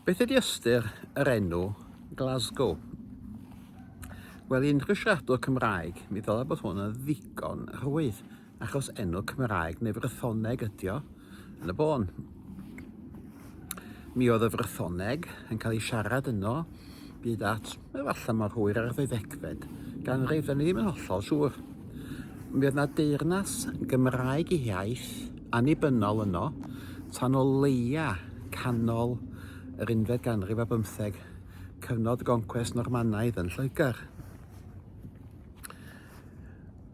Beth ydy ystyr yr enw Glasgow? Wel, i unrhyw siaradwr Cymraeg, mi ddylai bod hwn yn ddigon rhwydd, achos enw Cymraeg neu Frythoneg ydy o yn y bôn. Mi oedd y Frythoneg yn cael ei siarad yno byd at Efallai mor hwyr â'r ddeuddegfed ganrif, dan ni ddim yn hollol siŵr. Mi oedd yna deyrnas Gymraeg i hiaith annibynnol yno tan o leia canol yr unfed ganrif a bymtheg, cyfnod y goncwest Normanaidd yn Lloegr.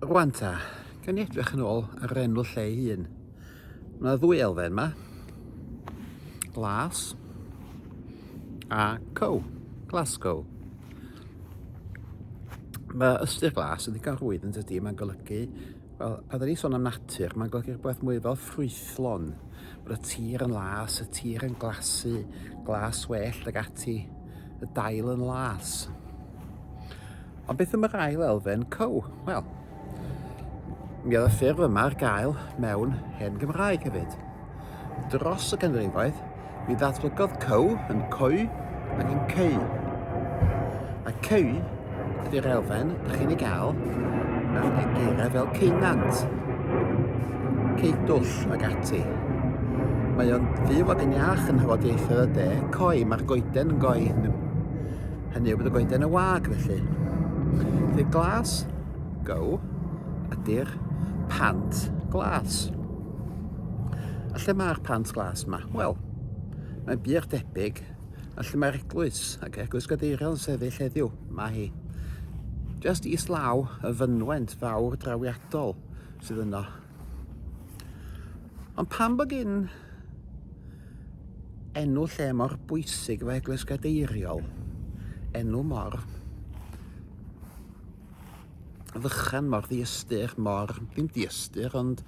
Rwan ta, gan i edrych yn ôl ar yr enw lle ei hun. Mae yna ddwy elfen yma. Glas a co. Glasgow. Mae ystyr glas yn ddigon rwydd yn dydy, mae'n golygu, wel, pan da ni sôn am natur, mae'n golygu rhywbeth mwy fel ffrwythlon, bod y tir yn las, y tir yn glasu, glas well ag ati, y dail yn las. Ond beth am yr ail elfen, co? Wel, mi oedd y ffurf yma ar gael mewn hen Gymraeg hefyd. Dros y canrifoedd, mi ddatblygodd co yn coe ac yn ceu. A ceu ydy'r elfen da chi'n ei gael mewn egeiriau fel ceunant, ceidwll ac ati. Mae o'n fyw ac yn iach yn hyfodiaethau y de, coi, mae'r goeden yn goi Hynny yw bod y goeden yn wag felly. Felly glas go ydy'r pant glas. A lle mae'r pant glas yma? Wel, mae'n byd debyg a lle mae'r eglwys ac eglwys gadeiriol yn sefyll heddiw. Mae hi. Just is law y fynwent fawr drawiadol sydd yno. Ond pan bod gyn Ap. Enw lle mor bwysig efo Eglwys Gadeiriol. Enw mor fychan, mor ddiystyr, mor... ddim diystyr, ond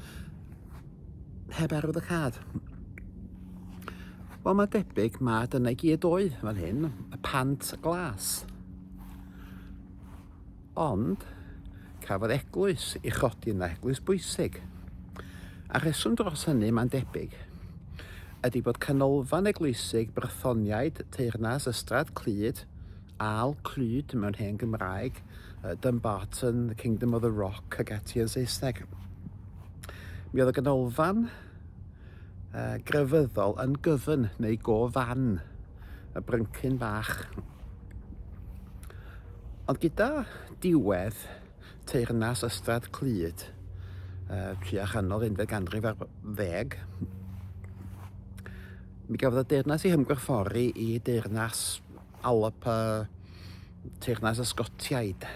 heb arwydd y cad. Wel, mae debyg mae dyna i gyd oedd fan hyn, y pant glas. Ond, cafodd eglwys ei chodi yna, eglwys bwysig. A rheswm dros hynny, mae'n debyg, ydy bod canolfan eglwysig Brythoniaid teyrnas Ystrad Clyd, Al Clyd mewn hen Gymraeg, Dumbarton, the Kingdom of the Rock ac ati yn Saesneg. Mi oedd y ganolfan uh, grefyddol yn gyfyn neu gofan y bryncyn bach. Ond gyda diwedd teyrnas Ystrad Clyd, uh, tua chanol unfed ganrif ar ddeg, mi gafodd y deyrnas ei hymgorffori i deyrnas Alop a teyrnas Ysgotiaid.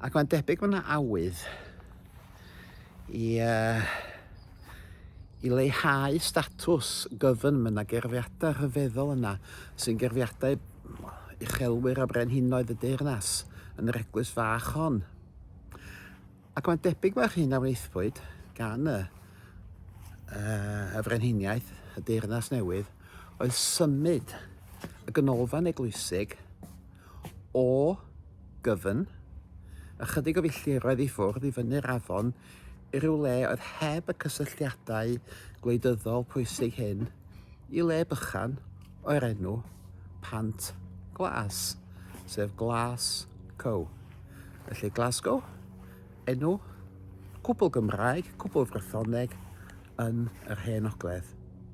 Ac mae'n debyg bod yna awydd i, uh, i leihau statws gyfyn mae yna gerfiadau rhyfeddol yna sy'n gerfiadau uchelwyr a brenhinoedd y deyrnas yn yr eglwys fach hon. Ac mae'n debyg mae'r hyn a wnaethpwyd gan y, uh, y frenhiniaeth, y deyrnas newydd, oedd symud y ganolfan eglwysig O gyfyn, ychydig o filltiroedd i ffwrdd i fyny'r afon, i ryw le oedd heb y cysylltiadau gwleidyddol pwysig hyn, i le bychan o'r enw Pant Glas, sef Glas Cow. Felly Glasgow, enw cwbl Gymraeg, cwbl Frythoneg yn yr Hen Ogledd.